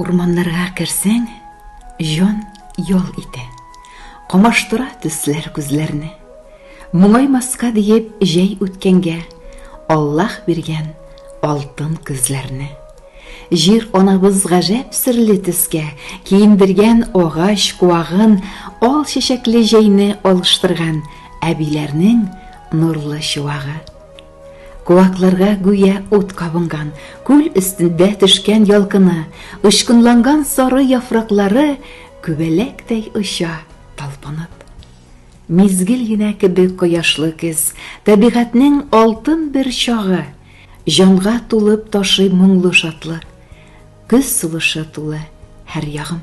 Урманнарга керсәң, җан ял итә. Камаштыра төсләр күзләрне. Моңаймаска диеп җәй үткәнгә, Аллаһ биргән алтын көзләрне. Җир анабыз гаҗәп серле төскә киендергән агач куагын, ал чәчәкле җәйне алыштырган әбиләрнең нурлы чуагы. Куакларга гүя ут кабынган, күл өстендә төшкән ялкыны, очкынланган сары яфраклары күбәләктәй оча, талпынып. Мизгел генә кебек кояшлы көз, табигатьнең алтын бер чагы, җанга тулып ташый моңлы шатлык, көз сулышы тулы һәр ягым.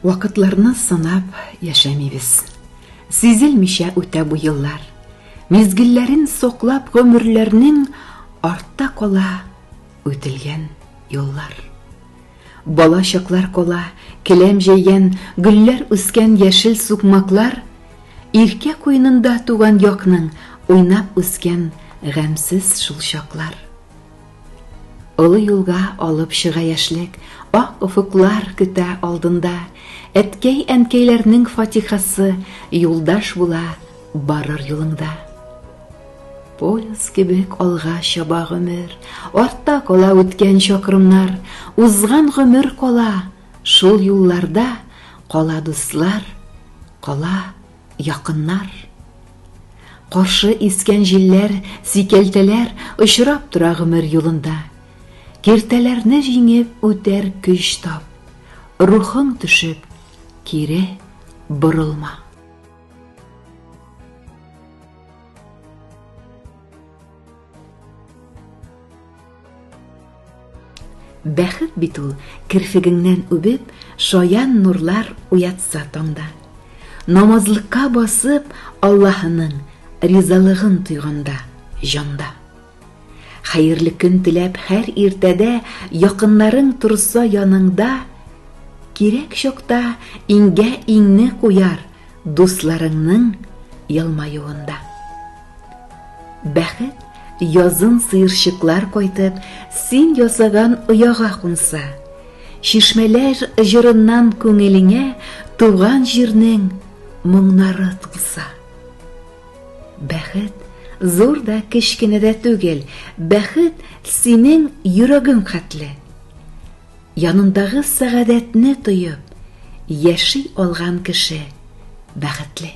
Вакытларны санап яшәмибез. Сизелмичә үтә бу еллар. Мизгелләрен соклап гомерләрнең артта кала үтелгән юллар. Бала чаклар кала, келәм җәйгән, гөлләр үскән яшел сукмаклар, иркә куенында туган якның уйнап үскән гамьсез шул чаклар. Олы юлга алып чыга яшьлек, Ак офыклар көтә алдында. Әткәй-әнкәйләрнең фатихасы Юлдаш була барыр юлыңда. Пояс кебек алга чаба гомер, Артта кала үткән чакрымнар, Узган гомер кала, шул юлларда Кала дуслар, кала Якыннар. Каршы искән җилләр, сикәлтәләр очрап тора гомер юлында. Киртәләрне җиңеп үтәр көч тап. Рухың төшеп, кире борылма. Бәхет бит ул, керфегеңнән үбеп, шаян нурлар уятса таңда. Намазлыкка басып, Аллаһының ризалыгын тойганда, җанда. Хәерле көн теләп һәр иртәдә якыннарың торса яныңда, кирәк чакта иңгә иңне куяр дусларыңның елмаюында. Бәхет язын сыерчыклар кайтып, син ясаган ояга кунса, чишмәләр җырыннан күңелеңә туган җирнең моңнары тулса. Бәхет зур да кечкенә дә түгел, бәхет синең йөрәгең хәтле. Янындагы сәгадәтне тоеп, яши алган кеше бәхетле.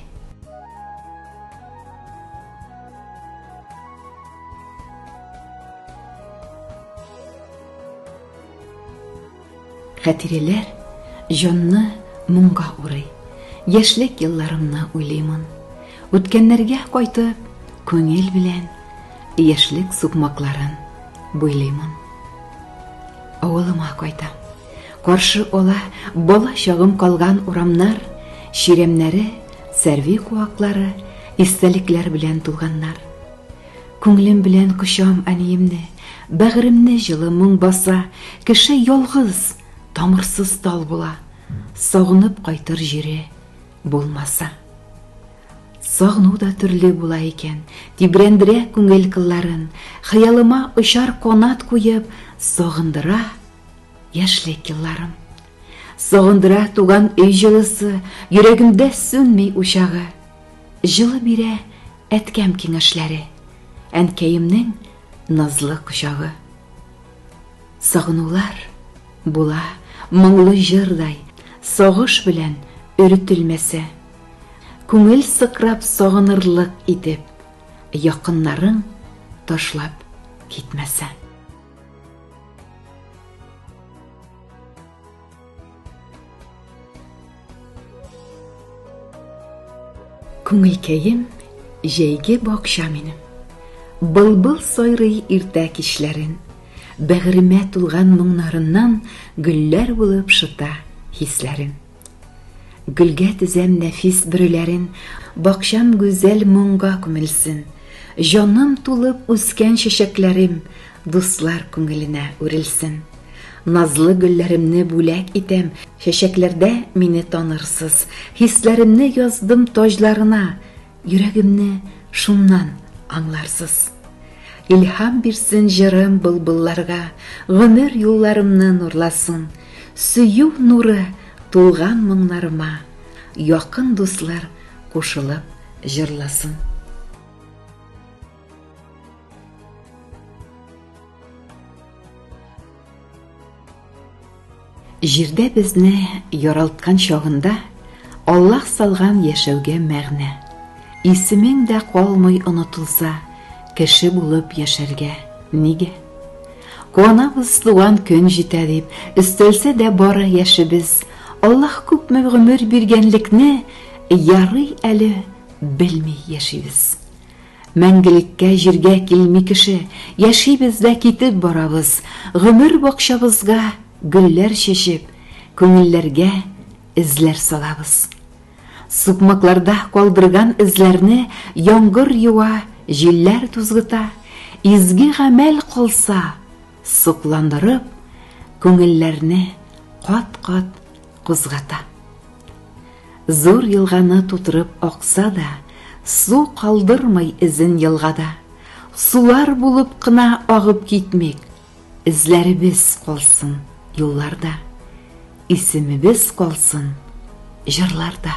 Хәтирәләр җанны моңга урый. Яшьлек елларымны уйлыймын. Үткәннәргә кайтып, күңел белән яшьлек сукмакларын буйлыймын. Авылыма кайтам. Каршы ала бала чагым калган урамнар, чирәмнәре, сәрви куаклары, истәлекләр белән тулганнар. Күңелем белән кочам әниемне, бәгыремне җылы моң баса, кеше ялгыз, тамырсыз тал була, сагынып кайтыр җире булмаса. Сагыну да төрле була икән, тибрәндерә күңел кылларын, хыялыма очар канат куеп, сагындыра, Яшьлек елларым. Сагындыра туган өй җылысы, йөрәгемдә сүнми учагы. Җылы бирә әткәм киңәшләре, әнкәемнең назлы кочагы. Сагынулар була моңлы җырдай, сагыш белән өретелмәсә. Күңел сыкрап сагынырлык итеп, якыннарың ташлап китмәсә. Күңелкәем җәйге бакча минем. Былбыл сайрый иртә кичләрен. Бәгыремә тулган моңнарыннан гөлләр булып шыта хисләрем. Гөлгә тезәм нәфис бөреләрен, Бакчам гүзәл моңга күмелсен. Җаным тулып үскән чәчәкләрем Дуслар күңеленә үрелсен. Назлы гөлләремне бүләк итәм, Чәчәкләрдә мине танырсыз. Хисләремне яздым таҗларына, Йөрәгемне шуннан аңларсыз. Илһам бирсен җырым былбылларга, Гомер юлларымны нурласын. Сөю нуры тулган моңнарыма, Якын дуслар кушылып җырласын. Җирдә безне яралткан чагында Аллаһ салган яшәүгә мәгънә. Исемең дә калмый онытылса, кеше булып яшәргә нигә? Куанабыз туган көн җитә дип, өстәлсә дә бары яшебез. Аллаһ күпме гомер биргәнлекне ярый әле белми яшибез. Мәңгелеккә җиргә килми кеше, Яшибез дә китеп барабыз, Гомер бакчабызга гөлләр чәчеп, Күңелләргә эзләр салабыз. Сукмакларда калдырган эзләрне Яңгыр юа, җилләр тузгыта, Изге гамәл калса, сокландырып, Күңелләрне кат-кат Кузгата. Зур елганы тутырып акса да, Су калдырмый эзен елгада. Сулар булып кына агып китмик, Эзләребез калсын юлларда, Исемебез калсын җырларда.